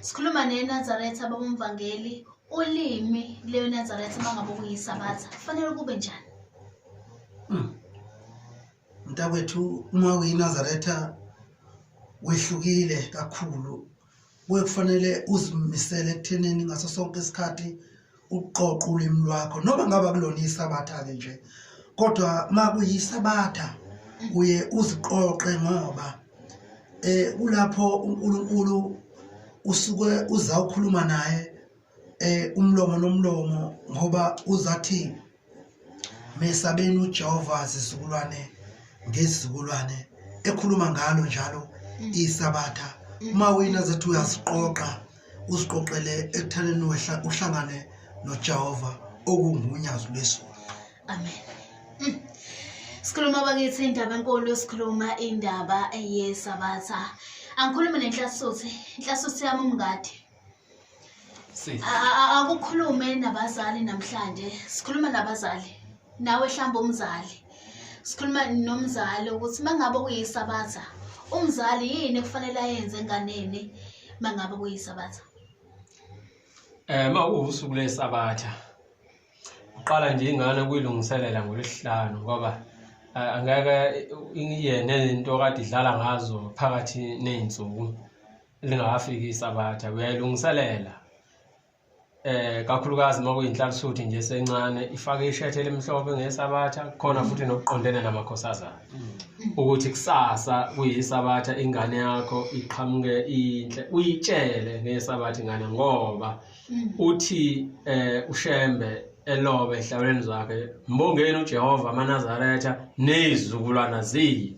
Sikhuluma neNazaretha babomvangeli ulimi leyoNazaretha mangabe kuyisabatha kufanele kube njani? Hmm. Mntakwethu uma uyiNazaretha wehlukile kakhulu kuye kufanele uzimisele ekuthenini ngaso sonke isikhathi ukuqoqa ulimi lwakho noma ngaba kulona isabatha-ke nje kodwa uma kuyisabatha uye uziqoqe ngoba eh kulapho uNkulunkulu usuke uzawukhuluma naye eh umlomo nomlomo ngoba uzathi mesabeni uJehova zizukulwane ngezizukulwane ekhuluma ngalo njalo mm. isabatha mm. uma wina zethi uyaziqoqa uziqoqele ekuthaneni wehla uhlangane noJehova okungunyazi lwesizwe amen mm. sikhuluma bakithi indaba enkulu sikhuluma indaba yesabatha angikhulumi nenhlasuthi inhlasuthi yami umngadi Sisi. A- a- a- akukhulume nabazali namhlanje sikhuluma nabazali nawe hlamba umzali sikhuluma nomzali ukuthi mangabe kuyisabatha umzali yini ekufanele ayenze enganeni mangabe kuyisabatha Eh ma usuku lesabatha. Uqala nje ingane kuyilungiselela ngolesihlanu ngoba eh, angeke iyene into kade idlala ngazo phakathi nezinsuku. lingakafiki isabatha uyayilungiselela eh kakhulukazi uma kuyinhlalisuthi nje sencane ifake ishethe elimhlophe ngesabatha khona mm. futhi nokuqondene namakhosazana mm. ukuthi kusasa kuyisabatha ingane yakho iqhamuke inhle uyitshele ngesabatha ingane ngoba mm. uthi eh ushembe elobe ehlawuleni zakhe mbongeni uJehova amanazaretha nezizukulwana ziyi